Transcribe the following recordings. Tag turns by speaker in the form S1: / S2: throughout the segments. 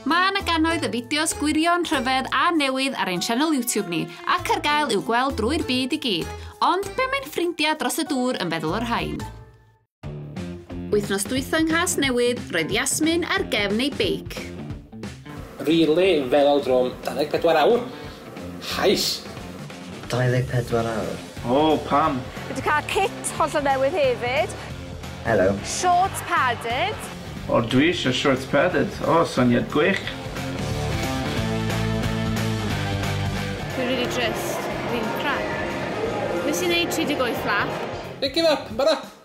S1: Mae yna gannoedd y fideos gwirion, rhyfedd a newydd ar ein sianel YouTube ni, ac ar gael i'w gweld drwy'r byd i gyd. Ond be mae'n ffrindiau dros y dŵr yn feddwl o'r rhain? Wythnos dwytho yng Nghas Newydd, roedd Yasmin ar gefn ei beic.
S2: Rili feddal drwm 24 awr. Hyce!
S3: 24 awr. O! Pam?
S4: Fi 'di cael kit
S5: hollol newydd hefyd. Helo.
S3: Shorts
S5: padded. O dwi
S4: eisiau shorts padded. O, syniad gwych!
S6: Dwi rili drist. Fi'n crap. Nes i neud 38 laff. Pick him up,
S2: Barath!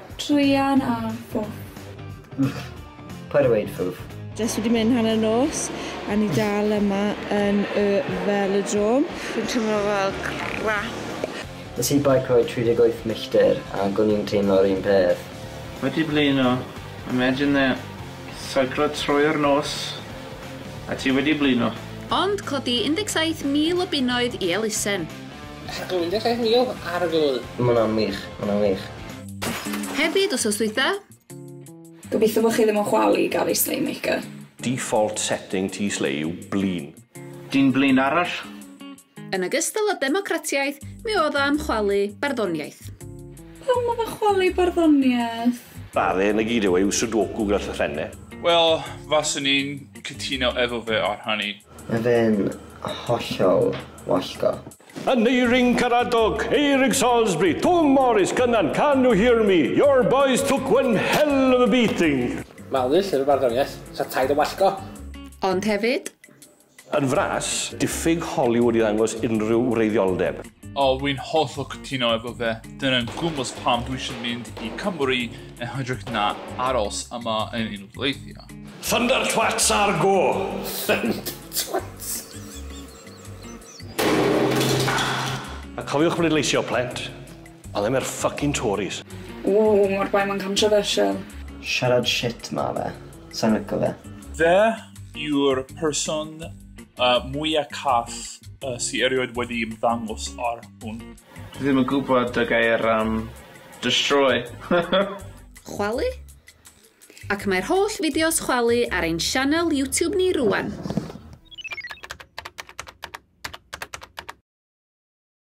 S3: Druan a
S7: phwff. Ych, paid
S3: a weud phwff. Jyst wedi mynd hanner
S7: nos a ni dal yma yn y Velodrome. Fi'n teimlo fel crap. Nes i beicio
S3: 38 milltir ac o'n i'n teimlo'r un peth. Wedi blino.
S4: Imagine that. Seiclo trwy'r nos a ti wedi blino. Ond codi 17,000
S1: o bunnoedd i elusen. Ac 17,000
S2: ar y flwydd. Mae hwnna'n wych, mae
S3: hwnna'n wych. Hefyd
S1: wsos dwytha. Gobeithio
S7: bod chi ddim yn chwalu gael ei slay maker. Default
S8: setting ti slay yw blin. Dyn blin
S4: arall. Yn
S1: ogystal â democratiaeth, mi oedd o am chwalu barddoniaeth. Pam oedd
S7: o'n chwalu barddoniaeth? Bale, 'na
S8: gyd yw e, yw Sudoku gyda llythrenne. Wel,
S9: faswn i'n cytuno efo fe ar hynny. Mae fe'n
S3: hollol wallgo. Yn Eirin
S8: Caradog, Eirig Salisbury, Twm Morris, Cynan, Can you hear me? Your boys took one hell of a beating. Malu, Llyfr
S2: Barddoniaeth, Lladd Taid a Wallgo. Ond hefyd.
S1: Yn
S8: fras, diffyg Hollywood i ddangos unrhyw wreiddioldeb. O wy'n
S9: hollol cytuno efo fe, dyna'n gwmws pam dwi isio mynd i Cymru yn hytrach na aros yma yn Unol Daleithiau. Thunder twats
S8: ar go! Thunder
S2: twats!
S8: A cofiwch bleidleisio, plant! Ond ddim i'r fucking Tories! Ww, mor bai
S7: mae'n controversial. Siarad shit
S3: ma fe. Sai'n lico fe. Fe
S9: yw'r person mwya cath sy erioed wedi ymddangos ar hwn. Dwi ddim yn gwybod
S4: y gair am destroy.
S1: Chwalu? Ac mae'r holl fideos chwalu ar ein sianel YouTube ni rŵan!